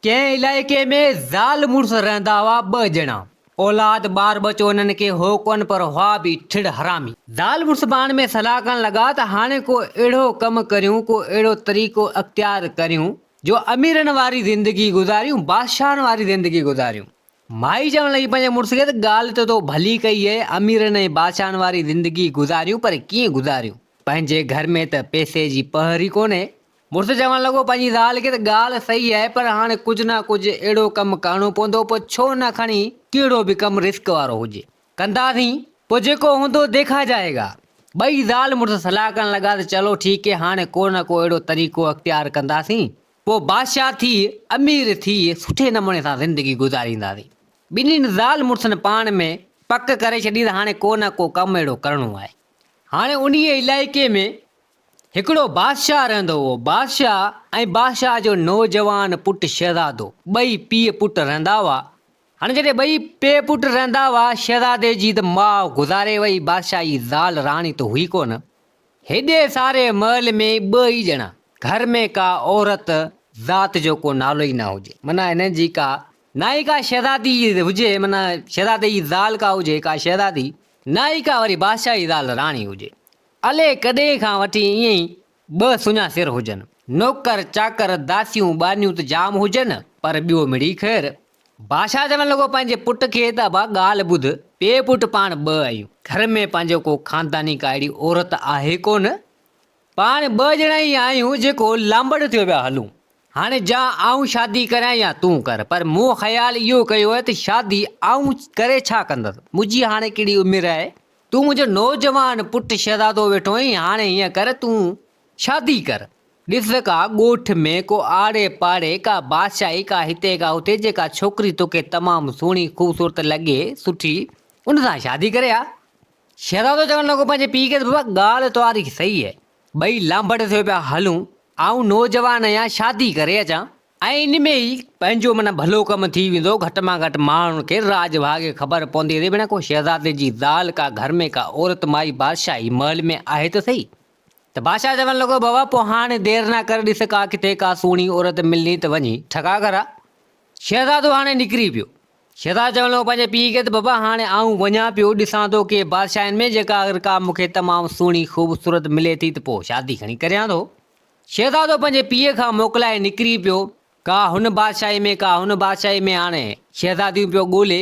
ڪنهن علائقي ۾ زال مڙس رهندا هئا ٻه ڄڻا. اولاد ٻار ٻچو انهن کي هو ڪونه پر هئا به ٺڙ حرامي. زال مڙس پاڻ ۾ صلاح ڪرڻ لڳا ته هاڻي ڪو اهڙو ڪم ڪريون ڪو اهڙو طريقو اختيار ڪريون جو اميرن واري زندگي گذاريون بادشاهن واري زندگي گذاريون. مائي چوڻ لڳي پنهنجي مڙس کي ته ڳالهه ته تو ڀلي ڪئي اهي اميرن ۽ بادشاهن واري زندگي گذاريون پر ڪيئن گذاريون پنهنجي گهر ۾ ته پئسي جي پهر ئي ڪونهي. مڙس چوڻ لڳو، پنهنجي زال کي ته ڳالهه صحيح آهي پر هاڻي ڪجهه نه ڪجهه اهڙو ڪم ڪرڻو پوندو پوء ڇو نه کڻي ڪهڙو به ڪم رسڪ وارو هجي ڪنداسين پوء جيڪو هوندو ديکا جائي گا. ٻئي زال مڙس صلاح ڪرڻ لڳا ته چلو ٺيڪ هي هاڻي ڪو نه ڪو اهڙو طريقو اختيار ڪنداسين پوء بادشاهه ٿي امير ٿي سٺي نموني سان زندگي گذارينداسين. ٻنهين زال مڙسن پاڻ ۾ پڪ ڪري ڇڏي ته هاڻي ڪو نه ڪو ڪم اهڙو ڪرڻو آهي هاڻي انهيء علائقي ۾ هڪڙو بادشاهه رهندو هئو. بادشاهه ۽ بادشاهه جو نوجوان پٽ شهزادو. ٻئي پيء پٽ رهندا هئا. هاڻي جڏهن ٻئي پيء پٽ رهندا هئا، شهزادي جي ته ماء گذاري وئي، بادشاهه جي زال راڻي ته هئي ڪونه. هيڏي ساري محل ۾ ٻه ئي ڄڻا. گهر ۾ ڪا عورت ذات جو ڪو نالو ئي نه هجي. معنيٰ هنن جي ڪا نه ئي ڪا شهزادي هجي، معنيٰ شهزادي جي زال ڪا هجي، ڪا شهزادي، نه ئي ڪا وري بادشاهه جي زال راڻي هجي. الئي ڪڏهن کان وٺي ائين ئي ٻه سڃا سر هجن. نوڪر چاڪر، داسيون ٻانهيون ته جام هجن، پر ٻيو مڙئي خير. بادشاهه چوڻ لڳو پنهنجي پٽ کي ته ابا ڳالهه ٻڌ، پيء پٽ پاڻ ٻه آهيون. گهر ۾ پنهنجو ڪو خانداني ڪا اهڙي عورت آهي ڪونه. پاڻ ٻه ڄڻا ئي آهيون جيڪو لانبڙ ٿيو پيا هلون. هاڻي جا آئون شادي ڪريان يا تون ڪر، پر مون خيال اهو ڪيو آهي ته شادي آئون ڪري ڇا ڪندس. منهنجي هاڻي ڪهڙي عمر آهي تون منهنجو نوجوان پٽ شهزادو ويٺو آهين، هاڻي هيئن ڪر تون شادي ڪر. ڏس ڪا ڳوٺ ۾ ڪو آڙي پاڙي ڪا بادشاهي ڪا هتي ڪا هتي جيڪا ڇوڪري توکي تمام سهڻي خوبصورت لڳي سٺي ان سان شادي ڪري آ. شهزادو چوڻ لڳو پنهنجي پيء کي ته بابا ڳالهه توهاري صحيح آهي ٻئي لانڀڙ ٿيو پيا هلون آئون نوجوان آهيان شادي ڪري اچان ۽ ان ۾ ئي پنهنجو معنيٰ ڀلو ڪم ٿي ويندو، گهٽ مان گهٽ ماڻهن کي راڄ ڀاڳي خبر پوندي ته ڀيڻا ڪو شهزادي جي زال ڪا گهر ۾ ڪا عورت مائي بادشاهي محل ۾ آهي ته سهي. ته بادشاهه چوڻ لڳو بابا پوء هاڻي دير نه ڪر ڏس ڪا ڪٿي ڪا سهڻي عورت ملي ته وڃي ٺڳا گهرا. شهزادو هاڻي نڪري پيو. شهزادو چوڻ لڳو پنهنجي پيء کي ته بابا هاڻي آئون وڃان پيو ڏسان ٿو ڪي بادشاهين ۾ جيڪا اگر ڪا مون کي تمام سهڻي خوبصورت ملي ٿي ته پوء شادي کڻي ڪريان ٿو. شهزادو پنهنجي پيء کان موڪلائي نڪري پيو، ڪا هن بادشاهي ۾ ڪا هن بادشاهي ۾ آڻي شهزاديون پيو ڳولي،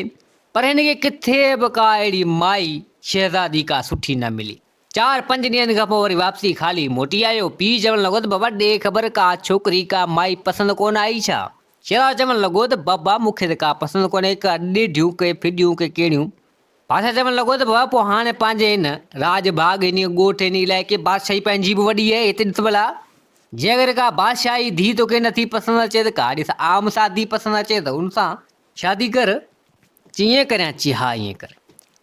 پر هن کي ڪٿي به ڪا اهڙي مائي شهزادي ڪا سٺي نه ملي. چار پنج ڏينهن کان پوء وري واپسي خالي موٽي آيو. پيء چوڻ لڳو ته بابا ڏي خبر ڪا ڇوڪري ڪا مائي پسند ڪونه آئي ڇا؟ شهزادو چوڻ لڳو ته بابا مون کي ته ڪا پسند ڪونهي، ڪا ڏيڍيون ڪي ڦڏيون ڪي ڪيڙهيون. بادشاهه چوڻ لڳو ته بابا پوء هاڻي پنهنجي هن راڄ ڀاڳ، هن ڳوٺ، هن علائقي، بادشاهي پنهنجي به وڏي آهي، هتي ڏس ڀلا! جي اگر ڪا بادشاهي ڌيء توکي نٿي پسند اچي ته ڪا ڏس عام سا ڌيء پسند اچي ته ان سان شادي ڪر. چي ائين ڪريان؟ چي ها ائين ڪر.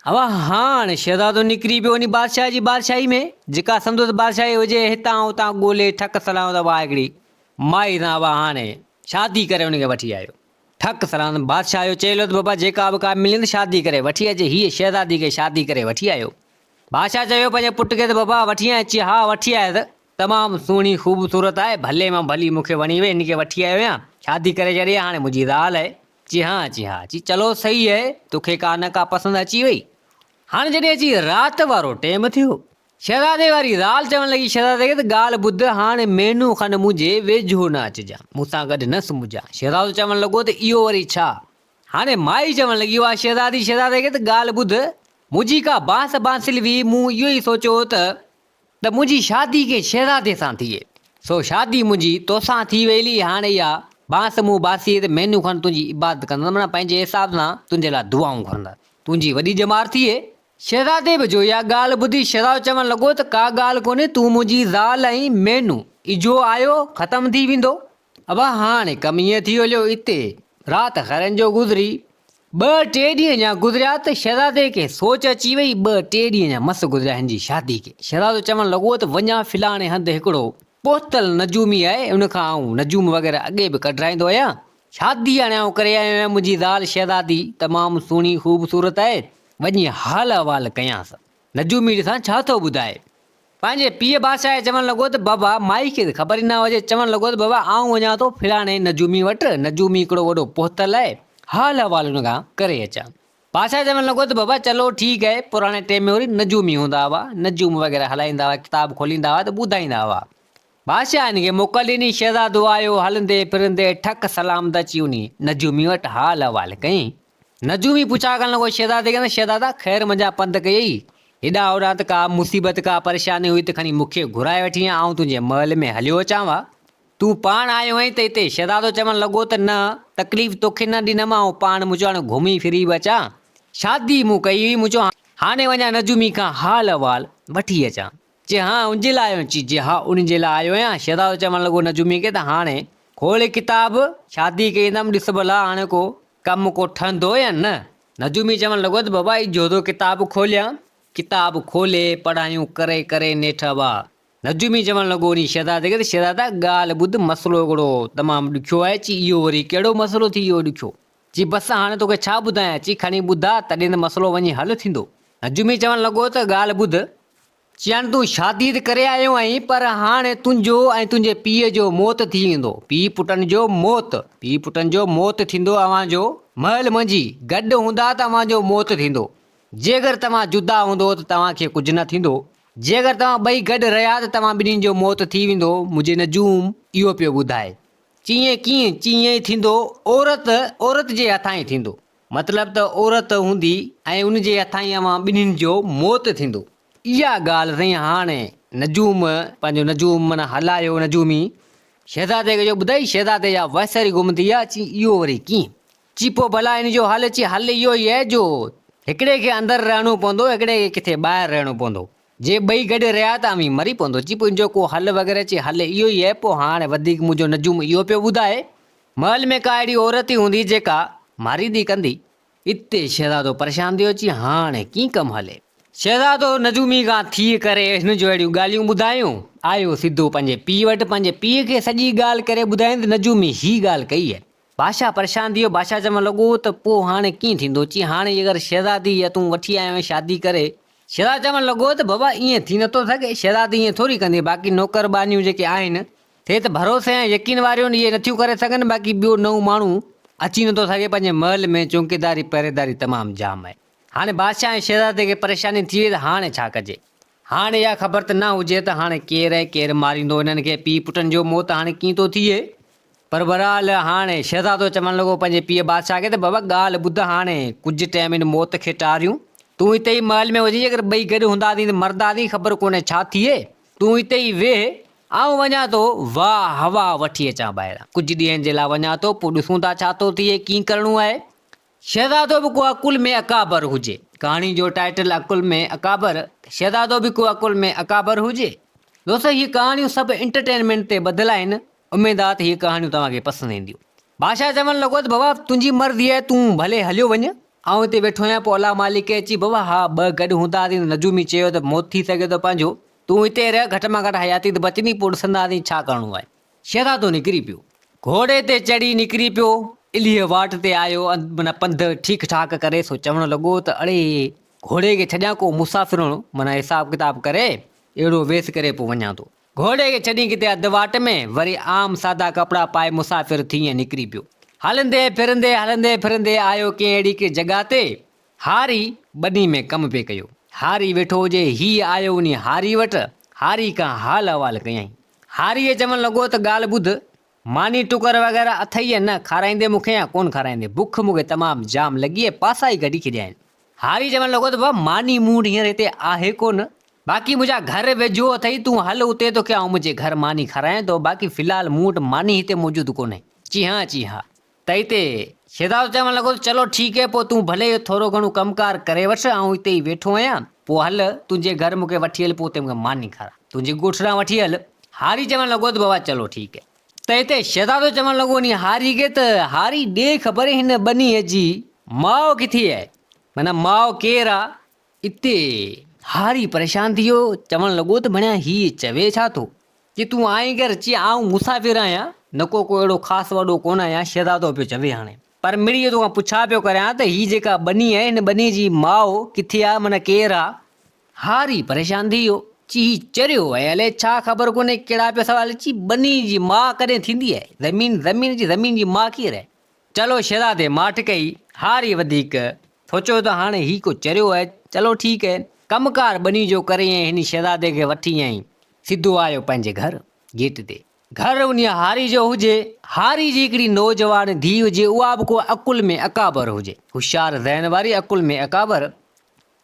هو هاڻ شهزادو نڪري پيو وڃي بادشاهه جي بادشاهي ۾ جيڪا سندس بادشاهي هجي، هتان هتان ڳولي ٺڪ سلهايو ته اها هڪڙي مائي سان هو هاڻي شادي ڪري ان کي وٺي آيو. ٺڪ سران بادشاهه جو چيو لڌ بابا جيڪا به ڪا ملين ته شادي ڪري وٺي اچ هيء شهزادي کي شادي ڪري وٺي آيو بادشاهه چيو پنهنجي پٽ کي ته بابا وٺي آئين چي ها وٺي آيس تمام سهڻي خوبصورت آهي ڀلي مان ڀلي مون کي وڻي وئي هن کي وٺي آيو آهيان شادي ڪري ڇڏي هاڻي منهنجي زال آهي چي ها چي ها چي چلو سهي آهي توکي ڪا نه ڪا پسند اچي وئي هاڻي جڏهن اچي رات وارو ٽيم ٿيو شهزادي واري زال چوڻ لڳي، شهزادي ته ڳالهه ٻڌ، هاڻي مهينو کن منهنجي ويجهو نه اچجان، مون سان گڏ نه سمهجان. شهزادو چوڻ لڳو ته اهو وري ڇا؟ هاڻي مائي چوڻ لڳي، واهه شهزادي، شهزادي ته ڳالهه ٻڌ، منهنجي ڪا بانس بانسل هئي، مون اهو ئي سوچيو هو ته ته منهنجي شادي ڪنهن شهزادي سان ٿئي، سو شادي منهنجي توسان ٿي ويلي، هاڻي اها بانس مون باسي ته مهينو کن تنهنجي عبادت ڪندس، معنيٰ پنهنجي حساب سان تنهنجي لاء دعائون گهرندس، تنهنجي وڏي ڄمار ٿئي، شهزادي به جو اها ڳالهه ٻڌي شهزادو چوڻ لڳو ته ڪا ڳالهه ڪونهي تون منهنجي زال ۽ مينهون اجهو آيو ختم ٿي ويندو ابا هاڻي ڪم ائين ٿي هليو اتي رات خيرن جو گذري ٻه ٽي ڏينهن اڃا گذريا ته شهزادي کي سوچ اچي وئي ٻه ٽي ڏينهن اڃا مس گذريا هن جي شادي کي شهزادو چوڻ لڳو ته وڃان فلاڻي هنڌ هڪڙو پهتل نجومي آهي ان کان آئون نجوم وغيره اڳي به ڪڍرائيندو آهيان شادي هاڻي آئون ڪري آيو آهيان، منهنجي زال شهزادي تمام سهڻي خوبصورت آهي، وڃي حال احوال ڪيانس. نجو ميڙ سان ڇا ٿو ٻڌائي؟ پنهنجي پيء بادشاهه چوڻ لڳو ته بابا، مائي کي ته خبر ئي نه هجي، چوڻ لڳو ته بابا، آئون وڃان ٿو فلاڻي نجومي وٽ، نجومي هڪڙو وڏو پهتل آهي، حال احوال ان کان ڪري اچان. بادشاهه چوڻ لڳو ته بابا، چلو ٺيڪ آهي، پراڻي ٽيم ۾ وري نجومي هوندا هئا، نجوم وغيره هلائيندا هئا، ڪتاب کوليندا هئا ته ٻڌائيندا هئا. بادشاهه هن کي موڪل ڏني، شهزادو آيو، هلندي ڦرندي ٺڪ سلام ته اچي وڃي، نجومي وٽ حال احوال ڪيائين. نجومي پڇا ڪرڻ لڳو شهزادي کي ته شهزادا خير منجهان پنڌ ڪئي اٿئي، هيڏانهن هوڏانهن ته ڪا مصيبت ڪا پريشاني هئي ته کڻي مون کي گهرائي وٺين ها، آئون تنهنجي محل ۾ هليو اچان ها، تون پاڻ آيو آهين ته هتي، شهزادو چوڻ لڳو ته نه، تڪليف توکي نه ڏنم، آئون پاڻ مون چيو هاڻي گهمي ڦري به اچان، شادي مون ڪئي هئي، مون چيو هاڻي وڃان نجومي کان حال احوال وٺي اچان، چي ها ان جي لاء آيو؟ چي جي ها ان جي لاء آيو آهيان. شهزادو چوڻ لڳو نجوميء کي ته هاڻي کول ڪتاب، شادي ڪيندم، ڏس ڀلا هاڻي ڪو ڪم ڪو ٺهندو يا نه؟ نجومي چوڻ لڳو ته بابا هي جهوڌو ڪتاب کوليان؟ ڪتاب کولي پڙهايون ڪري ڪري نيٺ اڀا. نجومي چوڻ لڳو انهي شهزادي کي ته شهزادا ڳالهه ٻڌ مسئلو هڪڙو تمام ڏکيو آهي. چي اهو وري ڪهڙو مسئلو ٿي ويو ڏکيو؟ چي بس هاڻي توکي ڇا ٻڌايان، چي کڻي ٻڌاء تڏهن ته مسئلو وڃي حل ٿيندو. نجومي چوڻ لڳو ته ڳالهه ٻڌ. چيائين تون شادي ته ڪري آيو آهين پر هاڻي تنهنجو ۽ تنهنجي پيء جو موت ٿي ويندو. پيء پٽن جو موت. پيء پٽن جو موت ٿيندو اوهان جو. مهل منجهي گڏ هوندا ته اوهان جو موت ٿيندو. جيڪر توهان جدا هوندو ته توهان کي ڪجهه نه ٿيندو. جيڪر توهان ٻئي گڏ رهيا ته توهان ٻنهي جو موت ٿي ويندو. منهنجي نجوم اهو پيو ٻڌائي. چيئين ڪيئن چيئين ئي ٿيندو، عورت عورت جي هٿائين ٿيندو، مطلب ته عورت هوندي ۽ ان جي هٿائين اوهان ٻنهين جو موت ٿيندو. اها ڳالهه سائين هاڻي نجوم پنهنجو نجوم معنيٰ هلايو نجومي شهزادي کي جو ٻڌائي شهزادي جا وهسري گم ٿي ويا چي اهو وري ڪيئن چي پوء ڀلا ان جو حل چي حل اهو ئي آهي جو هڪڙي کي اندر رهڻو پوندو هڪڙي کي ڪٿي ٻاهر رهڻو پوندو جي ٻئي گڏ رهيا ته اوهين مري پوندو چي پوء ان جو ڪو حل وغيره چي حل اهو ئي اهي پوء هاڻ وڌيڪ منهنجو نجوم اهو پيو ٻڌائي. محل ۾ ڪا اهڙي عورت ئي هوندي جيڪا ماريدي ڪندي. اتي شهزادو پريشان ٿيو چي هاڻ ڪين ڪم هلي. شهزادو نجومي کان ٿي ڪري هن جو اهڙيون ڳالهيون ٻڌايون. آيو سڌو پنهنجي پيء وٽ پنهنجي پيء کي سڄي ڳالهه ڪري ٻڌائين ته نجومي هي ڳالهه ڪئي اهي. بادشاهه پريشان ٿي ويو، بادشاهه چوڻ لڳو ته پوء هاڻي ڪيئن ٿيندو؟ چيائين، هاڻي جي اگر شهزادي اها تون وٺي آيو آهين شادي ڪري. شهزادو چوڻ لڳو ته بابا ائين ٿي نٿو سگهي، شهزادي ائين ٿوري ڪندي، باقي نوڪر ٻانهيون جيڪي آهن، سي ته ڀروسي ۽ يقين واريون آهن، اهي نٿيون ڪري سگهن، باقي ٻيو نئون ماڻهو اچي نٿو سگهي، پنهنجي محل ۾ چونڪيداري پهريداري تمام جام آهي. هاڻي بادشاهه ۽ شهزادي کي پريشاني ٿي وئي ته هاڻي ڇا ڪجي؟ هاڻي اها خبر ته نه هجي ته هاڻي ڪير ۽ ڪير ماريندو انهن کي، پيء پٽن جو موت هاڻي ڪيئن ٿو ٿئي؟ پر بهرحال هاڻي شهزادو چوڻ لڳو پنهنجي پيء بادشاهه کي ته بابا ڳالهه ٻڌ هاڻي ڪجهه ٽيم هن موت کي ٽاريون، تون هتي ئي محل ۾ هجي جيڪر ٻئي گڏ هونداسين ته مرداسين خبر ڪونهي ڇا ٿئي، تون هتي ئي ويهه آئون وڃان ٿو واهه هوا وٺي اچان ٻاهران ڪجهه ڏينهن جي لاء وڃان ٿو پوء ڏسون ٿا ڇا ٿو ٿئي ڪيئن ڪرڻو آهي، شهزادو به ڪو اڪل ۾ اڪابر هجي. ڪهاڻي جو ٽائيٽل اڪل ۾ اڪابر، شهزادو به ڪو اڪل ۾ اڪابر هجي. دوستو هي ڪهاڻيون سڀ انٽرٽينمينٽ تي ٻڌل آهن، اميد آ ته هي ڪهاڻيون توهان کي پسند اينديون. بادشاهه چوڻ لڳو ته بابا تنهنجي مرضي آهي تون ڀلي هليو وڃ، آئون هتي ويٺو آهيان پوء الله مالڪ کي اچي بابا ها ٻه گڏ هونداسين ته نجومي چيو ته موت ٿي سگهي ٿو پنهنجو تون هتي رهه گهٽ مان گهٽ حياتي ته بچندي پوء ڏسنداسين ڇا ڪرڻو آهي. شهزادو نڪري پيو. گهوڙي تي چڙهي نڪري پيو. الهيء واٽ تي آيو معنيٰ پنڌ ٺيڪ ٺاڪ ڪري سو چوڻ لڳو ته اڙي گهوڙي کي ڇڏيان ڪو مسافرڻ معنيٰ حساب ڪتاب ڪري اهڙو ويس ڪري پو وڃان ٿو. گهوڙي کي ڇڏي ڪٿي اڌ واٽ ۾ وري عام سادا ڪپڙا پائي مسافر ٿي ائين نڪري پيو. هلندي ڦرندي هلندي ڦرندي آيو ڪنهن اهڙي ڪي جڳهه تي هاري ٻني ۾ ڪم پي ڪيو. هاري ويٺو هجي هيء آيو وڃي هاري وٽ هاري کان حال احوال ڪيائين. هاريء چوڻ لڳو ته ڳالهه ٻڌ، ماني ٽڪر وغيره اٿئي يا نه، کارائيندين مون کي يا ڪونه کارائيندين، بک مون کي تمام جام لڳي ۽ پاسا ئي ڪڍي ڇڏيا آهن. هاري چوڻ لڳو ته بابا ماني مون وٽ هينئر هتي آهي ڪونه، باقي منهنجا گهر ويجهو اٿئي، تون هل اتي توکي آئون منهنجي گهر ماني کارايان ٿو، باقي في الحال مون وٽ ماني هتي موجود ڪونهي. چيهان چيهان. تئي تي شهزادو چوڻ لڳو ته چلو ٺيڪ هي پوء تون ڀلي اهو ٿورو گهڻو ڪم ڪار ڪري وٺ آئون هتي ئي ويٺو آهيان پوء هل تنهنجي گهر مون کي وٺي هل پوء اتي مون کي ماني کاراء تنهنجي ڳوٺ ڏانهن وٺي هل هاري چوڻ لڳو ته بابا چلو ٺيڪ هي. تئي تي شهزادو چوڻ لڳو انهي هاري کي ته هاري ڏي خبر هن ٻنيء جي ماء ڪٿي آهي معنيٰ ماء ڪير آ؟ اتي هاري پريشان ٿي ويو، چوڻ لڳو ته ڀڻيا هيء چوي ڇا ٿو؟ جي تون آئين ڪر اچي، آئون مسافر آهيان، نڪو ڪو اهڙو خاص وڏو ڪونه آهيان، شهزادو پيو چوي هاڻي. پر مڙيئي تو کان پڇا پيو ڪريان ته هي جيڪا ٻني آهي، هن ٻني جي ماء ڪٿي آهي، معنيٰ ڪير آ؟ هاري پريشان ٿي ويو، چي هي چريو آهي، الئي ڇا خبر ڪونهي ڪهڙا پيا سوال اچي، ٻني جي ماء ڪڏهن ٿيندي آهي؟ زمين زمين جي زمين جي ماء ڪير آهي؟ چلو شهزادي ماٺ ڪئي، هاري وڌيڪ سوچيو ته هاڻي هي ڪو چريو آهي، چلو ٺيڪ آهي، ڪم ڪار ٻني جو ڪري ۽ هن شهزادي کي وٺي ائين سڌو آيو پنهنجي گهر گيٽ تي. گهر انهيء هاري جو هجي، هاري جي هڪڙي نوجوان ڌيء هجي، اها به ڪو عقل ۾ اڪابر هجي، هوشيار ذهن واري عقل ۾ اڪابر،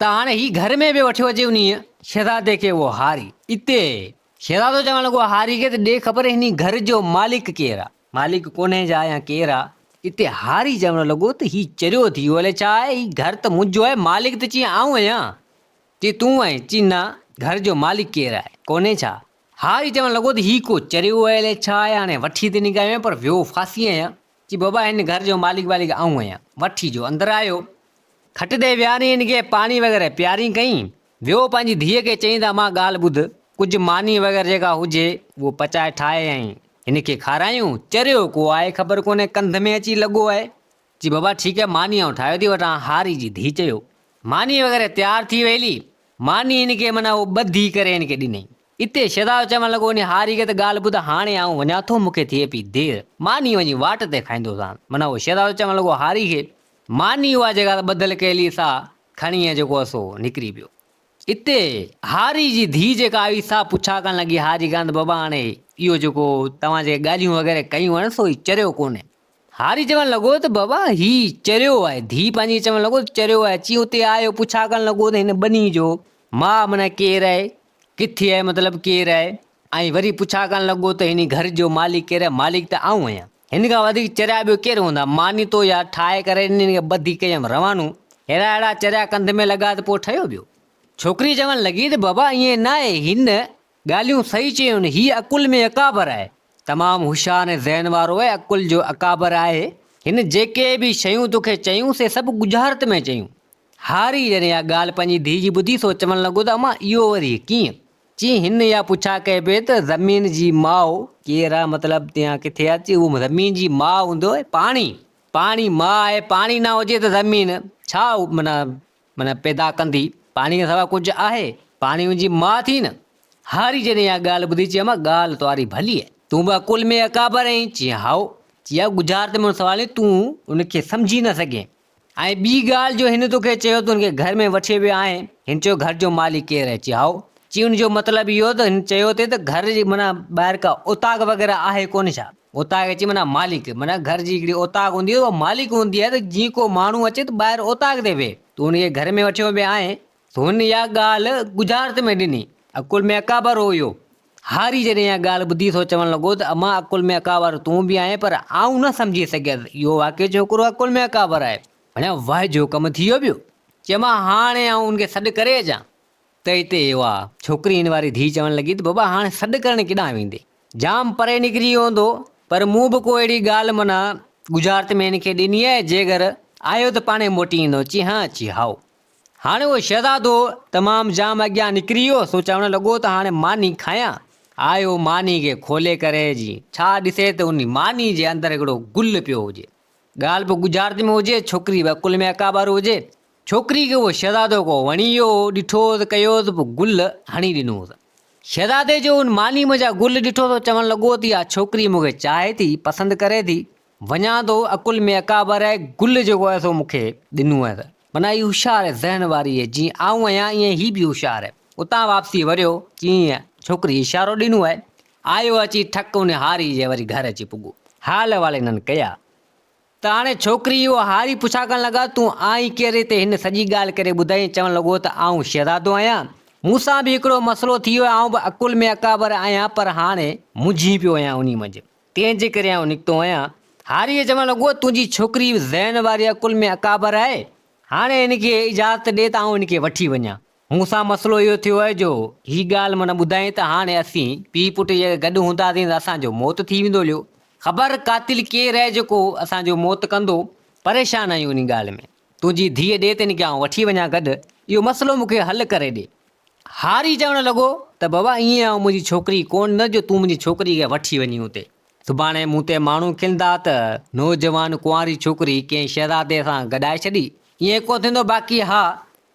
ته هاڻي هي گهر ۾ به وٺيو اچي انهيء شهزادي کي اهو هاري. اتي شهزادو چوڻ لڳو هاري کي ته ڏي خبر هن گهر جو مالڪ ڪير آهي. مالڪ ڪونهي جا يا ڪير آ؟ اتي هاري چوڻ لڳو ته هي چريو ٿي ويو الئه ڇا آهي، هي گهر ته منهنجو آهي، مالڪ ته چيئي آئون آهيان، چيئي تون آهين، چيئي نه، گهر جو مالڪ ڪير آهي، ڪونهي ڇا؟ هاري چوڻ لڳو ته هي ڪو چريو آهي الئه ڇا آهي، هاڻي وٺي ته نيڪايو آهيان پر ويو ڦاسي آهيان، چيئي بابا هن گهر جو مالڪ والڪ آئون آهيان، وٺي جو اندر آيو، کٽ تي ويهارين هن کي پاڻي وغيره پيارين ڪئين، ويو پنهنجي ڌيء کي چئين ته امان ڳالهه ٻڌ، ڪجهه ماني وغيره جيڪا هجي اهو پچائي ٺاهي ۽ هن کي کارايون، چريو ڪو آهي خبر ڪونهي ڪنڌ ۾ اچي لڳو آهي، چي بابا ٺيڪ آهي ماني آئون ٺاهيو ٿي وٺان، هاري جي ڌيء چيو. ماني وغيره تيار ٿي وئي هلي، ماني هن کي معنيٰ اهو ٻڌي ڪري هن کي ڏنائين، اتي شهزادو چوڻ لڳو انهي هاري کي ته ڳالهه ٻڌ هاڻي آئون وڃان ٿو مون کي ٿئي پئي دير، ماني وڃي واٽ تي کائيندوسان، معنيٰ اهو شهزادو چوڻ لڳو هاري کي ماني اها جيڪا ته ٻڌل ڪيلي سا کڻي ۽ جيڪو اسو نڪري پيو. اتي هاري جي ڌيء جيڪا آئي سا پڇا ڪرڻ لڳي ها جيڪا ته بابا هاڻي اهو جيڪو توهان جيڪي ڳالهيون وغيره ڪيون آهن سو هي چريو ڪونهي. هاري چوڻ لڳو ته بابا هي چريو آهي. ڌيء پنهنجي کي چوڻ لڳو ته چريو آهي. چي اتي آيو پڇا ڪرڻ لڳو ته هن ٻنهي جو ماء معنيٰ ڪير آهي؟ ڪٿي آهي مطلب ڪير آهي؟ ۽ وري پڇا ڪرڻ لڳو ته هن گهر جو مالڪ ڪير آهي؟ مالڪ ته آئون آهيان. هن کان وڌيڪ چريا ٻيو ڪير هوندا؟ ماني تو يا ٺاهي ڪري ڏني هن کي ٻڌي ڪيم روانو. ههڙا ههڙا چريا ڪنڌ ۾ لڳا ته پوء ٺهيو ٻيو. ڇوڪري چوڻ لڳي ته بابا ائين نه آهي. هن ڳالهيون صحيح چيون. هي عقل ۾ اڪابر آهي. تمام هوشيار ۽ ذهن وارو ۽ عقل جو اڪابر آهي. هن جيڪي به شيون توکي چيون سي سڀ ڳجهارت ۾ چيون. هاري جڏهن اها ڳالهه پنهنجي ڌيء جي ٻڌي سو چوڻ لڳو ته امان اهو وري ڪيئن؟ چي هن اها پڇا ڪئي پئي ته زمين جي ماء ڪير آهي مطلب تي اها ڪٿي آهي؟ چي اها زمين جي ماء هوندو آهي پاڻي، پاڻي ماء آهي پاڻي نه هجي ته زمين ڇا معنيٰ معنيٰ پيدا ڪندي؟ پاڻي کان سواء ڪجهه آهي؟ پاڻي ان جي ماء ٿي نه؟ هاري جڏهن اها ڳالهه ٻڌي چي امان ڳالهه توهاري ڀلي آهي تون به عقل ۾ اڪابر آهين؟ چي هائو. چي اها ڳجهارت ۾ هن سوال ۾ تون ان کي سمجهي نه سگهين. ۽ ٻي ڳالهه جو هن توکي چيو ته هن کي گهر ۾ وٺي ويو آهين؟ هن چيو گهر جو مالڪ ڪير آهي؟ چي هائو. چي ان جو مطلب اهو ته هن چيو اٿئي ته گهر جي معنيٰ ٻاهر ڪا اوطاق وغيره آهي ڪونه ڇا؟ اوطاق چي معنيٰ مالڪ معنيٰ گهر جي هڪڙي اوطاق هوندي آهي اها مالڪ هوندي آهي ته جيئن ڪو ماڻهو اچي ته ٻاهر اوطاق تي ويهي تون ان کي گهر ۾ وٺيو ويو آهين؟ هن اها ڳالهه ڳجهارت ۾ ڏني. عقل ۾ اڪابر هو اهو. هاري جڏهن اها ڳالهه ٻڌي سو چوڻ لڳو ته امان عقل ۾ اڪابر تون به آهين پر آئون نه سمجهي سگهيس اهو واقعي ڇوڪرو عقل ۾ اڪابر آهي. هن وهه جو ڪم ٿي ويو پيو. چيومانس هاڻي آئون ان کي سڏ ڪري اچان ته هتي اهو آ. ڇوڪري هن واري ڌيء چوڻ لڳي ته بابا هاڻي سڏ ڪرڻ ڪيڏانهن ويندين. جام پري نڪري ويو هوندو پر مون به ڪو اهڙي ڳالهه معنيٰ ڳجهارت ۾ هن کي ڏني آهي جيگر آيو ته پاڻهي موٽي ايندو اچي هان اچي هائو. هاڻي اهو شهزادو تمام جام اڳيان نڪري ويو، سو چوڻ لڳو ته هاڻي ماني کايان. آيو ماني کي کولي ڪري جي ڇا ڏسي ته ان ماني جي اندر هڪڙو گل پيو هجي. ڳالهه به ڳجهارت ۾ هجي، ڇوڪري به عقل ۾ اڪابر هجي. ڇوڪري کي اهو شهزادو ڪو وڻي ويو هو، ڏٺوس، ڪيوس به گل هڻي ڏنوس. شهزادي جو ان ماني منجهان گل ڏٺو سو چوڻ لڳو ته اها ڇوڪري مون کي چاهي ٿي، پسند ڪري ٿي، وڃان ٿو، عقل ۾ اڪابر آهي، گل جيڪو آهي سو مون کي ڏنو آهي. من اي هوشيار ذهن واريء، جيئن آئون آهيان ايئن هي به هوشيار. اتان واپسي وريو، چيائين، ڇوڪريء اشارو ڏنو آهي، آيو اچي ٺڪ ان هاريء جي وري گهر اچي پڳو. حال احوال هنن ڪيا ته هاڻي ڇوڪري اهو هاري پڇاڪڻ لڳا، تون آهين ڪير هتي؟ هن سڄي ڳالهه ڪري ٻڌائين، چوڻ لڳو ته آئون شهزادو آهيان، مون سان به هڪڙو مسئلو ٿي ويو، آئون به عقل ۾ اڪابر آهيان، پر هاڻي منجهي پيو آهيان انهي منجهه. تنهن جي ڪري آئون نڪتو آهيان. هاريء چيو، اڳوڻ تنهنجي ڇوڪري ذهن واريء ڪل ۾ اڪابر آهي. هاڻي هن کي اجازت ڏي ته آئون هن کي وٺي وڃان. مون سان مسئلو اهو ٿيو آهي جو هي ڳالهه مون نه ٻڌائين ته هاڻي اسين پيء پٽ جيڪر گڏ هونداسين ته اسان جو موت ٿي ويندو اليو خبر قاتل ڪير آهي جيڪو اسان جو موت ڪندو. پريشان آهيون انهي ڳالهه ۾. تنهنجي ڌيء ڏي تنهن کي آئون وٺي وڃان گڏ، اهو مسئلو مون کي حل ڪري ڏي. هاري چوڻ لڳو ته بابا ائين آئون منهنجي ڇوڪري ڪونه نه جو تون منهنجي ڇوڪري کي وٺي وڃين اتي. سڀاڻي مون تي ماڻهو کلندا ته نوجوان ڪنواري ڇوڪري ڪنهن شهزادي سان گڏائي ڇڏي. ائين ڪونه ٿيندو باقي ها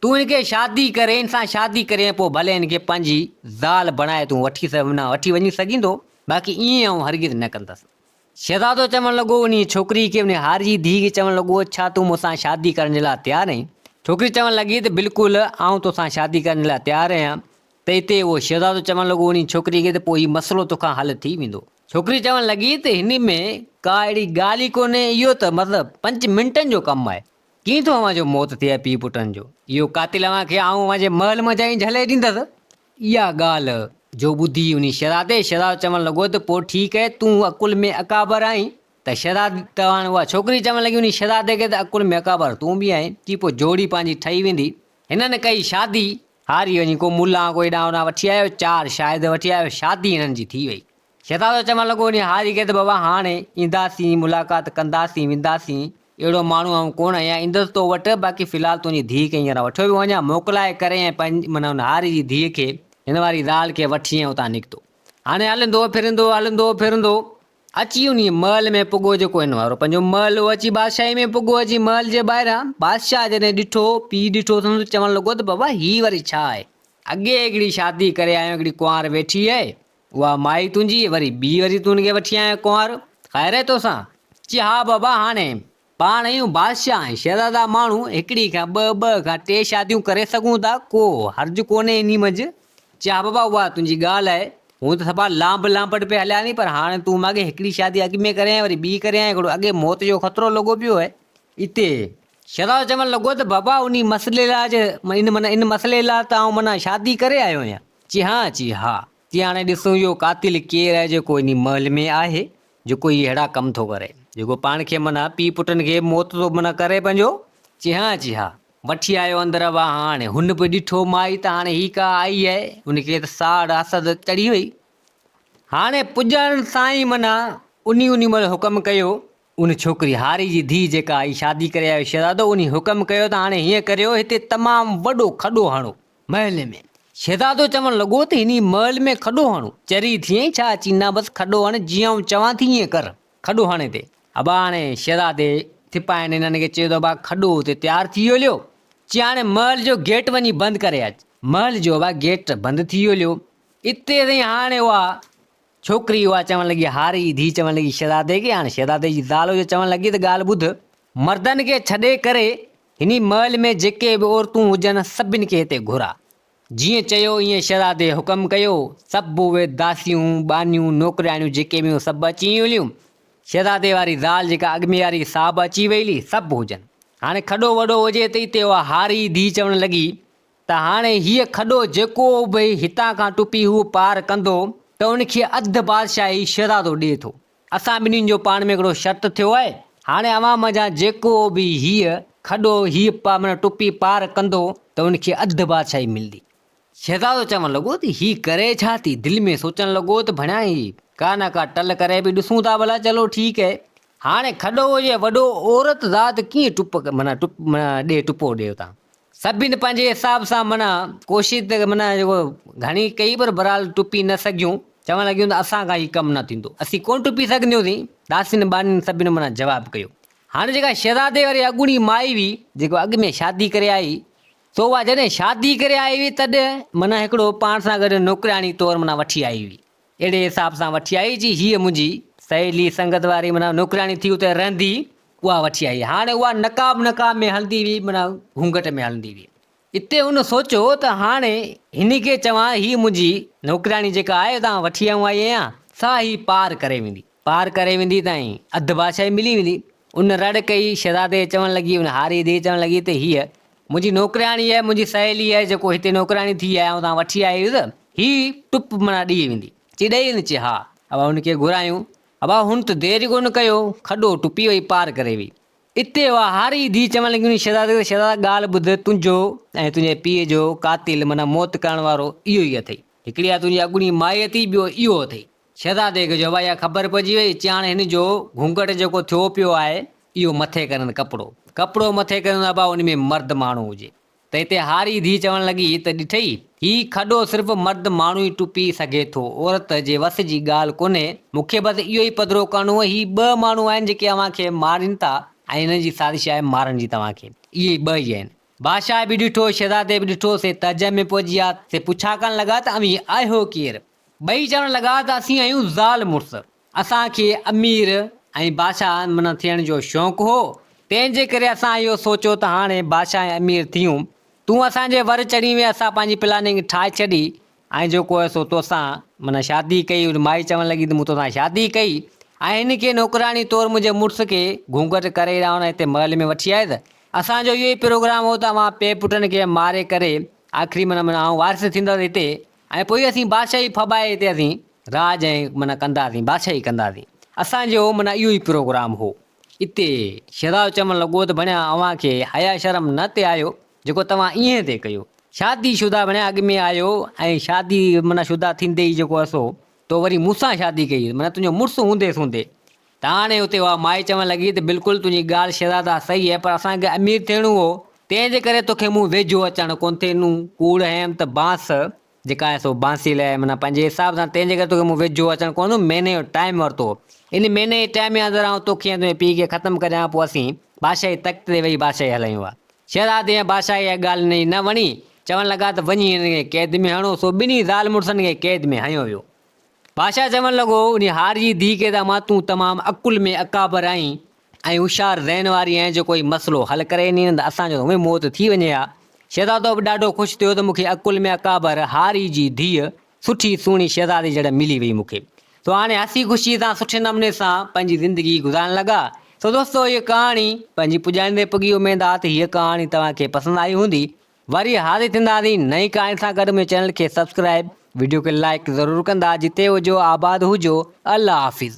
تون هن کي شادي ڪري هن سان شادي ڪري ۽ پوء ڀلي هن کي پنهنجي زال بڻائي تون وٺي وڃي سگهيندو باقي ائين آئون هرگز نه ڪندس. شهزادو چوڻ لڳو، انهيء ڇوڪريء کي انهيء هاري جي ڌيء کي چوڻ لڳو، ڇا تون مون سان شادي ڪرڻ جي لاء تيار آهين؟ ڇوڪري چوڻ لڳي ته بلڪل، آئون تو سان شادي ڪرڻ جي لاء تيار آهيان. ته اتي اهو شهزادو چوڻ لڳو انهيء ڇوڪريء کي ته پوء هي مسئلو تو کان حل ٿي ويندو. ڇوڪري چوڻ لڳي ته هن ۾ ڪا اهڙي ڳالهه ئي ڪونهي، اهو ته مطلب پنج منٽن جو ڪم آهي. ڪيئن ٿو اوهان جو موت ٿئي پيء پٽن جو؟ اهو قاتل اوهان کي آئون اوهان جي محل منجهان ئي جهلائي ڏيندس. اها ڳالهه جو ٻڌي انهي شهزادي شهزادو چوڻ لڳو ته پوء ٺيڪ آهي، تون عقل ۾ اڪابر آهين ته شهزادي ته هاڻي اها ڇوڪري چوڻ لڳي انهي شهزادي کي ته عقل ۾ اڪابر تون به آهين، جي پوء جوڙي پنهنجي ٺهي ويندي. هنن ڪئي شادي. هاري وڃي ڪو ملان ڪو هيڏانهن هوڏانهن وٺي آيو، چار شاهد وٺي آيو، شادي هنن جي ٿي وئي. شهزادو چوڻ لڳو، انهيء هاري کي ته بابا هاڻ اينداسين، ملاقات ڪنداسين، وينداسين، اهڙو ماڻهو آئون ڪونه آهيان، ايندس تو وٽ، باقي في الحال تنهنجي ڌيء کي هينئر وٺيو ويو وڃان، موڪلائي ڪري ۽ پنهنجي، معنيٰ هن هاري جي ڌيء کي، هن واري زال کي وٺي ۽ اتان نڪتو. هاڻي هلندو ڦرندو، هلندو ڦرندو، اچي انهيء محل ۾ پڳو جيڪو هن وارو پنهنجو محل هو، اچي بادشاهيء ۾ پڳو، اچي محل جي ٻاهران، بادشاهه جڏهن ڏٺو، پيء ڏٺو اٿم ته چوڻ لڳو ته بابا هيء وري ڇا آهي؟ اڳي هڪڙي شادي ڪري آيو، هڪڙي ڪنوار ويٺي آهي، اها مائي تنهنجي وري ٻي وري تون ان کي وٺي آيو ڪنوار، خير آهي توسان؟ چي ها بابا هاڻي پاڻ اهيون بادشاهه ۽ شهزادا ماڻهو هڪڙي کان ٻه ٻه کان ٽي شاديون ڪري سگهون ٿا ڪو حرج ڪونهي انهي منجهه، چي ها بابا اها تنهنجي ڳالهه آهي هون ته سڀا لانڀ لانپٽ پئي هليان ٿي پر هاڻي تون ماڳهين هڪڙي شادي اڳ ۾ ڪريائين وري ٻي ڪريائين هڪڙو اڳي موت جو خطرو لڳو پيو آهي اتي شهزادو چوڻ لڳو ته بابا انهي مسئلي لاء ان معنيٰ ان مسئلي لاء ته آئون معنيٰ شادي ڪري آيو آهيان. چي ها چي ها چي هاڻي ڏسون اهو قاتل ڪير آهي جيڪو انهي محل ۾ آهي جيڪو هي ههڙا ڪم ٿو ڪري جيڪو پاڻ کي منه پيء پٽن کي موت ٿو منه ڪري پنهنجو چي ها چي ها. وٺي آيو اندر وا هاڻي هن به ڏٺو مائي ته هاڻي هي ڪا آئي آهي ان کي ته ساڙ حسد چڙهي وئي هاڻي پڄڻ سان ئي منه انهي انهي مهل حڪم ڪيو ان ڇوڪري هاري جي ڌيء جيڪا آئي شادي ڪري آيو شهزادو انهي حڪم ڪيو ته هاڻي هيئن ڪريو هتي تمام وڏو کڏو هڻو محل ۾. شهزادو چوڻ لڳو ته هني محل ۾ کڏو هڻو؟ چري ٿيئين ڇا اچي نه بس کڏو هڻ جيئن آئون چوان ٿي ايئن ڪر. کڏو هڻي تي. ابا هاڻي شهزادي سپاهين انهن کي چيو ته ابا کڏو اتي تيار ٿي ويو ليو چي هاڻي محل جو گيٽ وڃي بند ڪري اچ. محل جو ابا گيٽ بند ٿي ويو ليو اتي تائين هاڻي اها ڇوڪري اها چوڻ لڳي، هاري جي ڌيء چوڻ لڳي شهزادي کي، هاڻ شهزادي جي زال جو چوڻ لڳي ته ڳالهه ٻڌ. مردن کي ڇڏي ڪري هني محل ۾ جيڪي به عورتون هجن، سڀن کي هتي گهرا. جيئن چيو ايئن شهزادي حڪم ڪيو، سڀ اهي داسيون، ٻانهيون، نوڪرياڻيون جيڪي به هيون سڀ اچي هليون. شهزادي واري زال جيڪا اڳمياري سا به اچي ويلي، سڀ هجن. هاڻي کڏو وڏو هجي ته اتي اها هاري جي ڌيء چوڻ لڳي، ته هاڻي هيء کڏو جيڪو به هتان کان ٽپي هو پار ڪندو ته ان کي اڌ بادشاهي شهزادو ڏئي ٿو. اسان ٻنهين جو پاڻ ۾ هڪڙو شرط ٿيو آهي. هاڻي اوهان منجهان جيڪو به هيء کڏو هيء پار معنيٰ ٽپي پار ڪندو ته ان کي اڌ بادشاهي ملندي. شهزادو چوڻ لڳو ته هي ڪري ڇا ٿي؟ دل ۾ سوچڻ لڳو ته ڀڻيان هي ڪا نه ڪا ٽل ڪري به ڏسون ٿا ڀلا چلو ٺيڪ آهي. هاڻي کڏو هجي وڏو عورت ذات ڪيئن ٽپ معنيٰ ٽپ معنيٰ ڏي ٽپو ڏي اتان سڀني پنهنجي حساب سان معنيٰ ڪوشش ته معنيٰ جيڪو گهڻي ڪئي پر بهرحال ٽپي نه سگهيون چوڻ لڳيون ته اسان کان هي ڪم نه ٿيندو اسين ڪونه ٽپي سگهنديون سين ڏاسين ٻانهين سڀني معنيٰ جواب ڪيو هاڻي جيڪا شهزادي واري اڳوڻي مائي هئي جيڪو اڳ ۾ شادي ڪري آئي سو اها جڏهن شادي ڪري آئي هئي تڏهن معنيٰ هڪڙو پاڻ سان گڏ نوڪرياڻي طور معنيٰ وٺي آئي هئي اهڙي حساب سان وٺي آئي جي هيء منهنجي سهيلي سنگت واري معنيٰ نوڪرياڻي ٿي اتي رهندي اها وٺي آئي هاڻي اها نقاب نقاب ۾ هلندي ويئي معنيٰ گهونگهٽ ۾ هلندي ويئي اتي هن سوچيو ته هاڻي هن کي چوان هيء منهنجي نوڪرياڻي جيڪا آء اتان وٺي آيو آهيان سا هي پار ڪري ويندي. پار ڪري ويندي تائين اڌ بادشاهي ملي ويندي. ان رڙ ڪئي، شهزادي چوڻ لڳي، ان هاري ڌيء چوڻ لڳي ته هيء منهنجي نوڪرياڻي آهي، منهنجي سهيلي آهي، جيڪو هتي نوڪرياڻي ٿي آيا آهيون تان وٺي آئي هيس، هي ٽپ منا ڏئي ويندي، چي ڏئي ويندي، چي ها، ابا هن کي گهرايون، ابا هن ته دير ئي ڪونه ڪيو، کڏو ٽپي وئي، پار ڪري وئي. اتي اها هاري ڌيء چوڻ لڳي انهي شهزادي کي ته شهزادا ڳالهه ٻڌ، تنهنجو ۽ تنهنجي پيء جو قاتل منا موت ڪرڻ وارو اهو ئي اٿئي، هڪڙي اها تنهنجي اڳوڻي مائي اٿئي، ٻيو اهو اٿئي. شھزادي کي جو ھئا اھا خبر پئجي وئي، چيائين ھاڻي ھن جو گھونگھٽ جيڪو ٿيو پيو آھي، اھو مٿي ڪرين ڪپڙو. ڪپڙو مٿي ڪرين ابا ان ۾ مرد ماڻھو ھجي. ته ھتي ھاري ڌيء چوڻ لڳي ته ڏٺئي، ھي کڏو صرف مرد ماڻھو ئي ٽپي سگھي ٿو، عورت جي وس جي ڳالھه ڪونھي، مون کي بس اھو ئي پڌرو ڪرڻو ھو، ھي ٻه ماڻھو آھن جيڪي اوھان کي مارين ٿا ۽ ھنن جي سازش آھي مارڻ جي توھان کي، اھي ٻه ئي آھن. بادشاھه به ڏٺو، شھزادي به ڏٺو، سي تعجب ۾ پئجي ويا، سي پڇا ڪرڻ لڳا ته اوھين آھيو ڪير؟ ٻئي چوڻ لڳا ته اسين آهيون زال مڙس، اسان کي امير ۽ بادشاهه معنيٰ ٿيڻ جو شوق هو، تنهن جي ڪري اسان اهو سوچيو ته هاڻي بادشاهه ۽ امير ٿيون، تون اسان جي ور چڙهين وئين، اسان پنهنجي پلاننگ ٺاهي ڇڏي ۽ جيڪو آهي سو توسان معنيٰ شادي ڪئي، ان مائي چوڻ لڳي ته مون توسان شادي ڪئي ۽ هن کي نوڪراڻي طور منهنجي مڙس کي گهونگهٽ ڪري رئون ۽ هتي محل ۾ وٺي آيس، اسان جو اهو ئي پروگرام هو ته اوهان پي پٽن کي ماري ڪري آخري معنيٰ معنيٰ آئون وارث ٿيندس هتي. ۽ پوء اسين بادشاهي ڦٻائي تي اسين راڄ ۽ معنيٰ ڪنداسين بادشاهي ڪنداسين اسان جو معنيٰ اهو ئي پروگرام هو اتي شيزاو چوڻ لڳو ته ڀڻيا اوهان کي حيا شرم نه تي آيو جيڪو توهان ايئن تي ڪيو شادي شده ڀڻيا اڳ ۾ آيو ۽ شادي معنيٰ شده ٿيندي ئي جيڪو اسو تو وري مون سان شادي ڪئي معنيٰ تنهنجو مڙس هوندي سوندي تان هاڻي اتي هئا. مائي چوڻ لڳي ته بلڪل تنهنجي ڳالهه شهزادا صحيح هي پر اسان کي امير ٿيڻو هو. تنهن جي ڪري تو کي مون ويجهو اچڻ ڪونه ڏنو. ڪوڙ هيم ته بانس جيڪا آهي سو بانسي لئي منا پنهنجي حساب سان تنهن جي ڪري تو کي مون ويجهو اچڻ ڪونه ڏنو. مهيني جو ٽائيم ورتو هو. ان مهيني جي ٽائيم جي اندر آئون تو کي ۽ تنهنجي پيء کي ختم ڪري ڏيان پوء اسين بادشاهي تخت تي ويهي بادشاهي هلايون ها. شهزادي ۽ بادشاهي اها ڳالهه هن جي نه وڻي. چوڻ لڳا ته وڃي هنن کي قيد ۾ هڻو. سو ٻنهي زال مڙسن کي قيد ۾ هنيو ويو. بادشاهه چوڻ لڳو، انهي هار جي ڌيء کي ته امان تون تمام عقل ۾ اڪابر آهين ۽ هوشيار ذهن واري آهين جو ڪوئي مسئلو حل ڪري ايندين نه ته اسان جو هونئن موت ٿي وڃي ها. شهزادو به ڏاڍو خوش ٿيو ته مون کي عقل ۾ اڪابر هاري جي ڌيء سٺي سهڻي شهزادي جهڙ ملي وئي مون کي. سو هاڻي هسي خوشيء سان سٺي نموني سان پنهنجي زندگي گذارڻ لڳا. سو دوستو هيء ڪهاڻي پنهنجي پڄائيندي پڳي اميد آ ته هيء ڪهاڻي توهان کي پسند آئي هوندي وري حاضر ٿينداسين نئين ڪهاڻي سان گڏ منهنجي چينل کي سبسڪرائب وڊيو کي لائيڪ ضرور ڪندا جتي هجو آباد هجو الله حافظ.